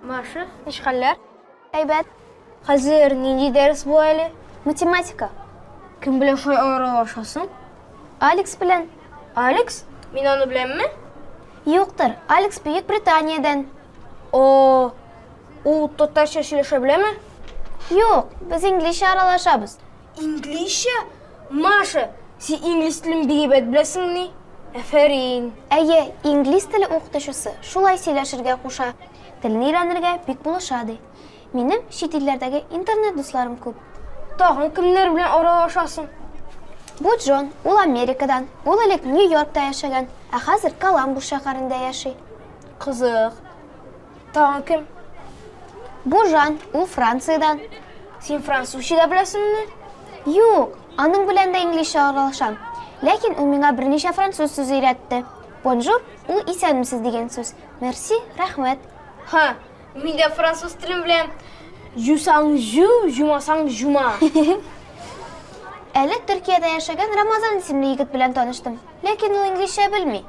Маша. Ничек хәлләр? Әйбәт. Хәзер нинди дәрес бу әле? Математика. Кем белән шулай аралашасың? Алекс белән. Алекс? Мин аны беләмме? Юктыр, Алекс Бөек Британиядән. О, ул татарча сөйләшә беләме? Юк, без инглизчә аралашабыз. Инглизчә? Маша, син инглиз телен бик әйбәт беләсеңмени? Әфәрин. Әйе, инглиз теле укытучысы шулай сөйләшергә куша. Телне өйрәнергә бик булыша, ди. Минем чит илләрдәге интернет дусларым күп. Тагын кемнәр белән аралашасың? Бу Джон, ул Америкадан. Ул элек Нью-Йоркта яшәгән, ә хәзер Коламбус шәһәрендә яши. Кызык. Тагын кем? Бу Жан, ул Франциядән. Син французча да беләсеңме? Юк, аның белән дә инглизчә аралашам. Ләкин ул миңа берничә француз сүзе өйрәтте. Бонжур, ул исәнмесез дигән сүз. Мерси, рәхмәт. Ха, Мин дә француз телен беләм. Жусаң жу, жумасаң жума. Әле Төркиядә яшәгән Рамазан исемле егет белән таныштым. Ләкин ул инглизчә белми.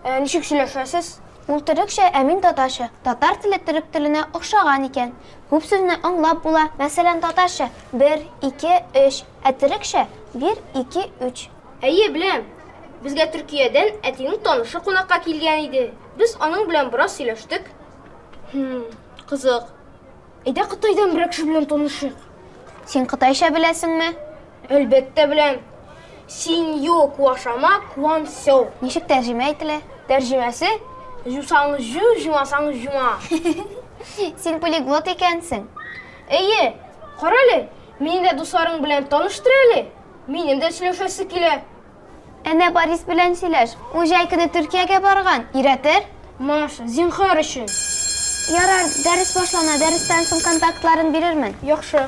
Ә ничек сөйләшәсез? Ул төрекчә, ә мин татарча. Татар теле төрек теленә охшаган икән. Күп сүзне аңлап була. Мәсәлән, татарча, бер, ике, өч. Ә төрекчә, бир, ике, үч. Әйе, беләм. Безгә Төркиядән әтинең танышы кунакка килгән иде. Без аның белән бераз сөйләштек. Хм, кызык. Әйдә Кытайдан берәр кеше белән танышыйк. Син кытайча беләсеңме? Әлбәттә беләм. Синьо куашама куан сяо. Ничек тәрҗемә ителә? Тәрҗемәсе Җусаң җу, җумасаң җума. Син полиглот икәнсең. Әйе, карале, мине дә дусларың белән таныштыр әле. Минем дә сөйләшәсе килә. Әнә Борис белән сөйләш. Ул җәй көне Төркиягә барган. Өйрәтер? Маша, зинһар өчен. Ярар, дәрес башлана, дәрестән соң контактларын бирермен. Яхшы.